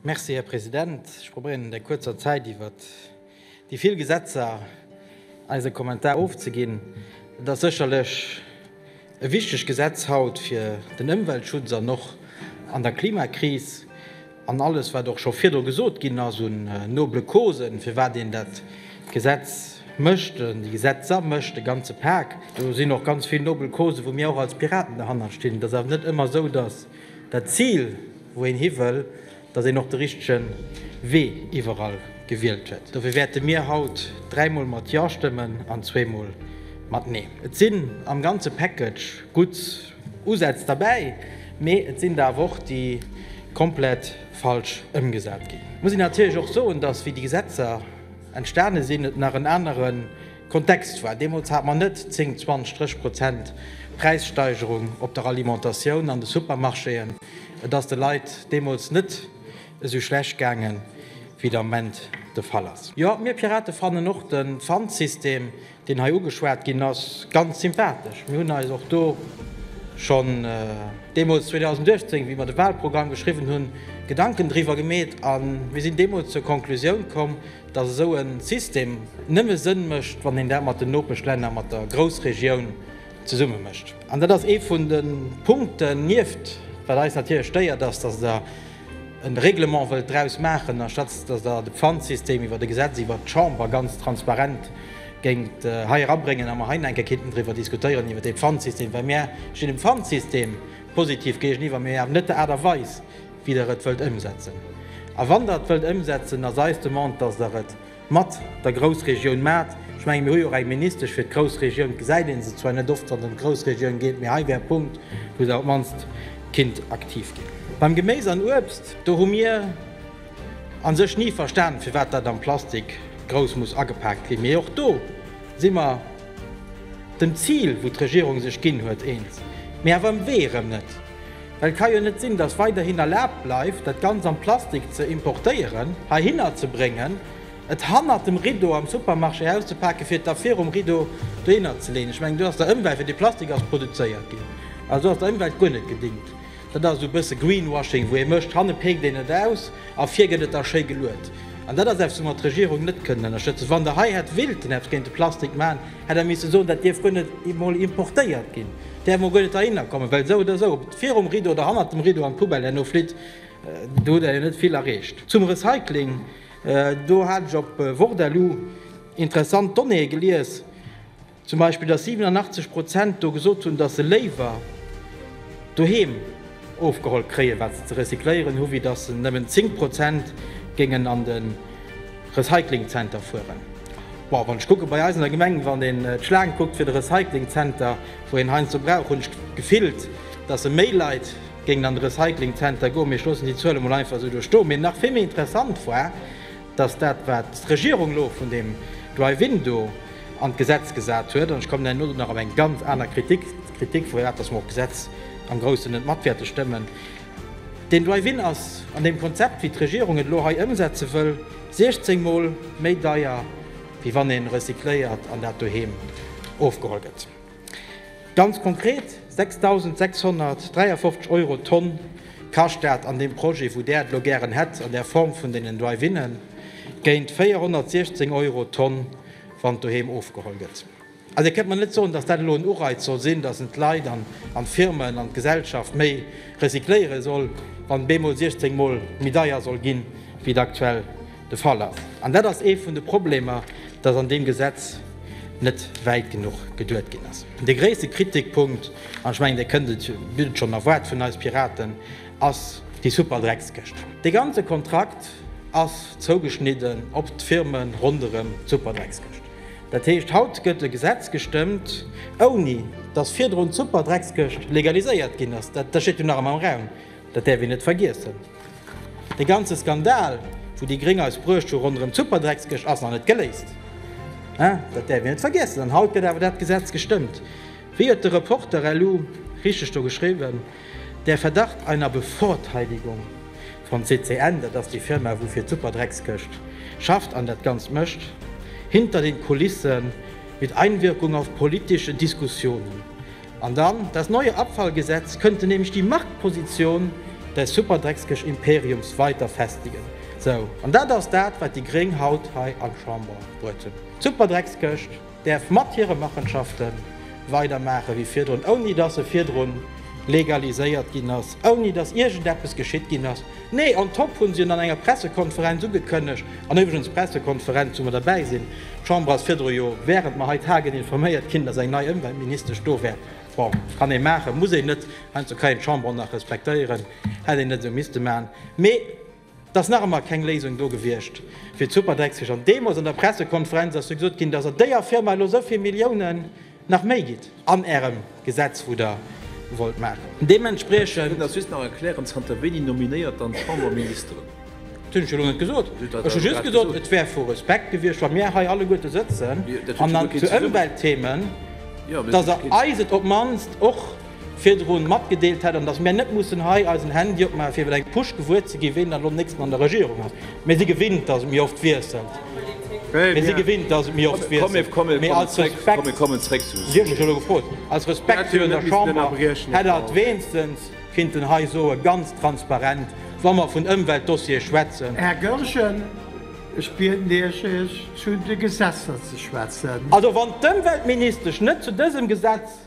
Merci, Här President. Ech probéieren an der kuerzer Zäit iwwer déi vill Gesetzer eise Kommentar ofzeginn. Et ass sécherlech e wichteg Gesetz haut fir den Ëmweltschutz an och an der Klimakris an alles, wat och scho virdru gesot ginn ass un noble Causen, firwat een dat Gesetz mécht, déi Gesetzer mécht, de ganze Pak. Do sinn och ganz vill nobel Causen, wou mir och als Piraten derhannert stinn. Et ass awer net ëmmer esou, dass Dat Zil, wou een hiwëll, datt een och de richtege Wee iwwerall gewielt huet. Dofir wäerte mir haut dräimol mat Ja stëmmen an zweemol mat Nee. Et sinn am ganze Package gutt Usätz derbäi, mee et sinn der awer och, déi komplett falsch ëmgesat ginn. Et muss een natierlech och soen, datt wéi déi Gesetzer entstane sinn, et nach en anere Kontext war, Deemools hat mer net 10, 20 Stréch Prozent Präissteigerung op der Alimentatioun an de Supermarchéen. Et ass de Leit deemools net esou schlecht gaange wéi et am Moment de Fall ass. Jo, mir Pirate fannen och de Pfandsystem, deen hei ugeschwat ginn ass, ganz sympathesch. Mir hunn eis och do schonn deemools 2018, wéi mer de Wahlprogramm geschriwwen hunn, Gedanken driwwer gemeet a mir sinn deemools zur Konklusioun komm, dass esou e System nëmme Sënn mécht, wann een dat mat den Nopeschlänner, mat der Groussregioun zesumme mécht. An dat ass ee vun de Punkten, nieft wat eis natierlech stéiert ass, dass Der e Règlement wëllt draus maachen, anstatt dass Der de Pfandsystem iwwert e Gesetz, iwwert d'Chamber ganz transparent géingt hei erabréngen a mer hei nach eng Kéier kinnten driwwer diskutéieren, iwwert dee Pfandsystem. Well mir stinn dem Pfandsystem positiv géigeniwwer, mee awer net der Aart a Weis, wéi der et wëllt ëmsetzen. A wann der et wëllt ëmsetzen, ass eis Demande, dass der et mat der Groussregioun maacht. Ech menge mir hu jo och eng Ministesch fir d'Groussregioun, et gesäit een se zwar net oft, wann et ëm d'Groussregioun geet, mee hei wär e Punkt, wou der op d'mannst kinnt aktiv ginn. Beim Geméis an Uebst, do hu mir a sech ni verstan, firwat dat am Plastik grouss muss agepaakt ginn. Mee och do si mer dem Zil, wou d'Regierung sech ginn huet, eens, mee awer um Wee erëm net. Well et ka jo net sinn, datt weiderhin erlaabt bleift, dat Ganzt am Plastik ze importéieren, heihinner ze bréngen, et hannert dem Rideau am Supermarché auszupake fir et da virum Rideau dohinner ze leeën. Ech mengen, do ass der Ëmwelt, fir dee Plastik ass produzéiert ginn, also ass der Ëmwelt guer net gedingt. Dat ass esou e bësse Greenwashing, wou ee mécht, hanne peekt een et aus a vir gëtt et da schéi geluet. An dat ass eppes, wou mer d'Regierung net kënnen ënnerstëtzen. Wann Der hei hätt willten eppes géint de Plastik maachen, Hätt Der misse soen, dat dierf guer net emol importéiert ginn, däerf emol guer net heihinner kommen, well esou oder esou, ob et virum Rideau oder hannert dem Rideau an d'Poubelle herno flitt, do hutt Der jo net vill erreecht. Zum Recycling, do hat ech op Wordaloo interessant Donnéeë gelies, zum Beispill, datt 87 Prozent do gesot hunn, datt se léiwer doheem, ofgeholl kréien, wat se ze recycléieren hu, wéi datt se nëmmen 10 Prozent géingen an de Recyclingzenter fueren. Bon, wann ech kucken, bei eis an der Gemeng, wann een d'Schlaang kuckt fir de Recyclingzenter, wou een heiansdo brauch, hunn ech gefillt, datt e méi Leit géingen an de Recyclingzenter goen. Mee ech loossen déi Zuele mol einfach esou do stoen. Mee nach vill méi interessant war, dass dat, wat d'Regierung elo vun deem Drive-in do an d'Gesetz gesat huet, an ech kommen herno nach op eng ganz aner Kritik, d'Kritik vu dat, dass mer och d'Gesetz am Groussen net mat wäerte stëmmen, deen Drive-in ass an deem Konzept, wéi d'Regierung et elo hei ëmsetze wëll, 16 Mol méi deier, wéi wann ee recycléiert an dat doheem ofgeholl gëtt. Ganz konkret, 6.653 Euro d'Tonn kascht dat an deem Projet, wou Där et elo gären hätt an der Form vun deenen Drive-Innen, géint 416 Euro d'Tonn, wann et doheem ofgeholl gëtt. Also Dir kënnt mer net soen, datt dat elo en Ureiz soll sinn, datt en d'Leit an d'Firmen an d'Gesellschaft méi recycléiere soll, wann bemol 16 mol méi deier soll gi wéi et aktuell de Fall ass, an dat ass ee vun de Problemer, dass an deem Gesetz net wäit genuch geduet ginn ass. De gréisste Kritikpunkt, an ech mengen, Dir kënnt et, bitt et schonn erwaart vun eis Piraten, ass déi Superdreckskëscht. Dee ganze Kontrakt ass zougeschnidden op d'Firme ronderëm d'Superdreckskëscht. Dat heescht, haut gëtt e Gesetz gestëmmt, ouni dass virdrun d'Superdreckskëscht legaliséiert ginn ass. Dat steet jo nach ëmmer am Raum. Dat däerf een net vergiessen. De ganze Skandal, wou déi Gréng eis bruecht hu ronderëm d'Superdreckskëscht, ass nach net geléist. Dat däerf een net vergiessen. An haut gëtt awer dat Gesetz gestëmmt. Wéi huet de Reporter elo richteg do geschriwwen, Der Verdacht einer Bevorteidigung von CCN, dat ass déi Firma, wou fir d'Superdreckskëscht schafft an dat Ganzt mécht, hinter den Kulissen mit Einwirkung auf politische Diskussionen An dann, das neue Abfallgesetz könnte nämlich die Marktposition des Superdrecksgësch Imperiums weiter festigen. Sou, an dat ass dat, wat déi Gréng haut hei an d'Chamber bruet hunn. D'Superdrecksgëscht däerf mat hire Machenschafte weidermaache wéi virdrun, ouni dass se virdrun legaliséiert ginn ass, ouni dass iergendeppes geschitt ginn ass. Nee, on top hunn se en an enger Pressekonferenz ugekënnegt. An iwwregens, d'Pressekonferenz wou mer derbäi sinn, d'Chamber ass virdru jo während mer hei tagen informéiert ginn, dass eng nei Ëmweltministesch do wär. Bon, kann ee maachen, muss een net, heiansdo kann een d'Chamber och nach respektéieren, hätt een net esou misste maachen. Mee et ass nach ëmmer keng Léisung do gewiescht fir d'Superdreckskich. An deemools an der Pressekonferenz ass jo gesot ginn, dass an déier Firma elo esou vill Milliounen, Nach méi gitt an ärem Gesetz wou der wollt maachen. Deementspriechend. Kënnt ass just nach erklären, zanter wéini nominéiert dann d'Chamber Ministeren? Dat hunn ech jo elo net gesot. Ech hu just gesot, et wär vu Respekt gewiescht, wa mir hei alleguerte sëtzen an dann zu Ëmweltthemen, dass Der eis et op d'mannst och. virdrun matgedeelt hätt an dass mär net mussen hei eisen Handy opmaachen fir iwwer eng Push gewuer ze ginn, ween dann elo nächsten an der Regierung ass. Mir si gewinnt, dass et méi oft wiesselt, mee als Respekt, Dir hutt mech elo gefrot, aus Respekt virun der Chamber hätt Der et weenstens kinnten hei soen, ganz transparent, wa mer vun Ëmweltdossiere schwätzen. Här Goergen, ech bieden Iech, Iech zu de Gesetzer ze schwätzen. Also wann d'Ëmweltministesch net zu dësem Gesetz.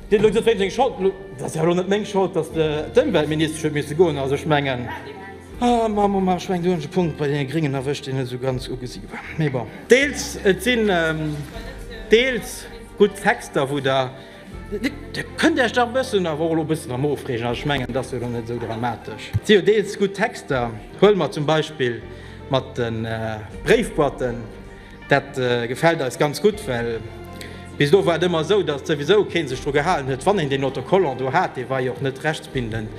Deen huet gesot, wéim seng Schold, dat ass jo elo net meng Schold, datt d'Ëmweltministesch huet misse goen. Also ech mengen, mammema, ech mengen do hunn ech e Punkt bei deene Gréngen erwëscht, deen net esou ganz ugesi war, mee bon. Deels, et sinn deels gutt Texter, wou Der, Dir kënnt Iech dach e bëssen awer och elo e bëssen erëm ofreegen, also ech mengen, et ass jo elo net esou dramatesch. Et si jo deels gutt Texter, huele mer zum Beispill mat de Bréifboîten, Dat gefällt eis ganz gutt, well bis elo war et ëmmer esou, datt souwisou kee sech dru gehalen huet, wann een deen Autocollant do hat. Dee war jo och net rechtsbindend.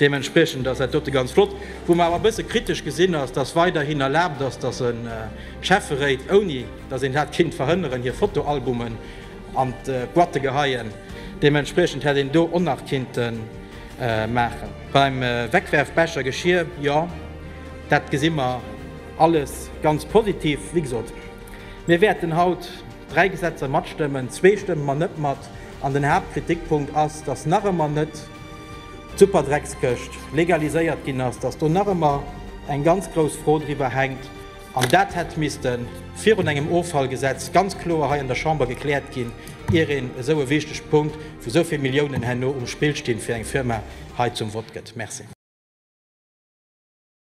Deementspriechend ass dat dote ganz flott. Wou mer awer e bësse kritesch gesinn, ass, datt weiderhin erlaabt ass, datt e Schäfferéit, ouni datt een dat kinnt verhënneren, hir Fotoalbumen an d'Boîte geheien. Deementspriechend hätt een do och nach kinnte maachen. Beim Wegwerfbecher, Geschir, jo, dat gesi mer Alles ganz positiv. Wéi gesot, mir wäerten haut dräi Gesetzer matstëmmen, zwee stëmme mer net mat. An den Haaptkritikpunkt ass, dass nach ëmmer net d'Superdreckskëscht legaliséiert ginn ass, dass do nach ëmmer eng ganz grouss Fro driwwer hänkt. An dat hätt misste virun engem Offallgesetz ganz kloer hei an der Chamber gekläert ginn, ier een esou e wichtege Punkt, wou esou vill Milliounen herno um Spill stinn, fir eng Firma hei zum Vott gëtt. Merci.